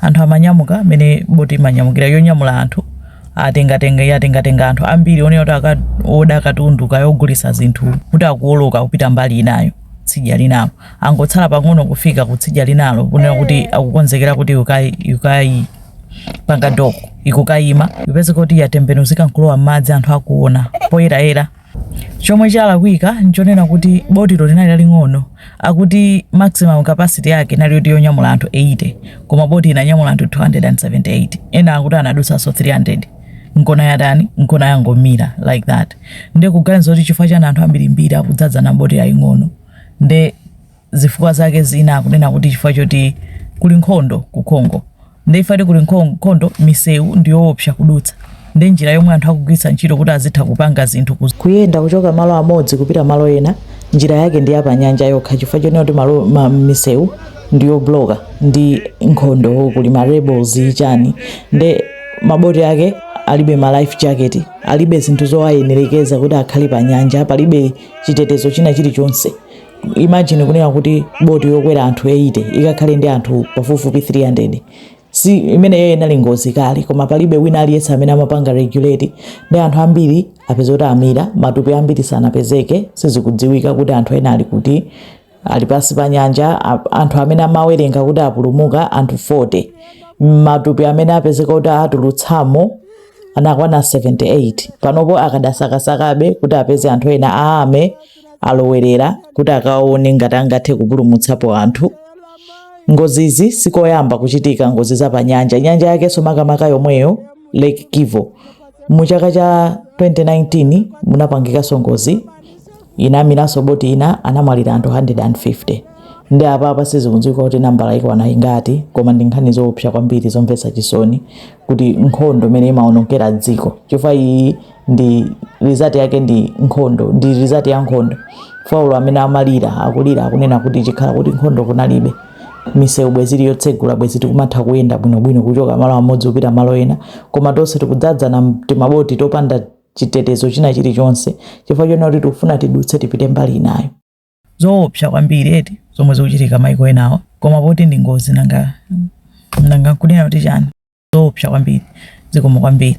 Anthu amanyamuka mene boti imanyamukira yonyamula anthu yatenga yatenga anthu ambiri onena kuti aka- oda katundu kaya ogulisa zinthu kuti akuoloka kupita mbali inayo tsidya linalo angotsala pang'ono kufika ku tsidya linalo kunena kuti akukonzekera kuti ikayi ikayi pa- pa doko ikukayima kupezeka kuti yatembenuzika nkulowa m'madzi anthu akuona poyerayera Chomwe chalakwika nchonena kuti botilo linali laling'ono, akuti maximum capacity yake inali yoti yonyamula anthu 80 koma boti inanyamula anthu 278 ena akuti anadutsanso 300 nkona yatani nkona yangomira like that nde kuganiza kuti chifukwa chani anthu ambirimbiri akudzadzana m'boti yaying'ono nde zifukwa zake zina akunena kuti chifukwa choti kuli nkhondo ku Congo nde ifati kuli nkho- nkhondo misewu ndi yoopsa kudutsa nde njira yomwe anthu akugwiritsa ntchito kuti azitha kupanga zinthu ku kuyenda kuchoka malo amodzi kupita malo ena njira yake ndi yapanyanja yokha chifukwa chonena kuti malo ma- misewu ndi yobloka ndi nkhondo kuli ma rebels chani nde maboti ake alibe ma life jacket alibe zinthu zowayenerekeza kuti akhale pa nyanja palibe chitetezo china chilichonse imagine kunena kuti boti yokwera anthu 80 ikakhale ndi anthu pafupifupi 300 si imeneyo inali ngozi kale koma palibe wina aliyense amene amapanga regulate nde anthu ambiri apeza kuti amira matupi ambiri sanapezeke sizikudziwika kuti anthu ena ali kuti ali pansi pa nyanja anthu amene amawerenga kuti apulumuka anthu 40 matupi amene apezeka kuti atulutsamo anakwana 78 panopo akadasakasakabe kuti apeze anthu ena amene alowerera kuti akaone ngati angathe kupulumutsapo anthu ngozizi sikoyamba kuchitika ngozi za pa nyanja nyanja yakenso makamaka yomweyo lake Kivu mu chaka cha 2019 munapangikanso ngozi inamiranso boti ina anamwalira anthu 150 nde apa apa sizikudziwika kuti nambala ikwana ingati koma ndi nkhani zoopsa kwambiri zomvetsa chisoni kuti nkhondo imene imaonongera dziko chifukwa iyi ndi result yake ndi nkhondo ndi result ya nkhondo pa ulo amene amalira akulira akunena kuti chikhala kuti nkhondo kunalibe misewu bwezi ili yotsegula bwezi tikumatha kuyenda bwinobwino kuchoka malo amodzi kupita malo ena koma tonse tikudzadzana timaboti topanda chitetezo china chilichonse chifukwa chonena kuti tikufuna tidutse tipite mbali inayo zoopsa kwambiri eti zomwe zikuchitika maiko enawa koma poti ndi ngozi nanga nanga nkutani kuti chani zoopsa kwambiri zikomo kwambiri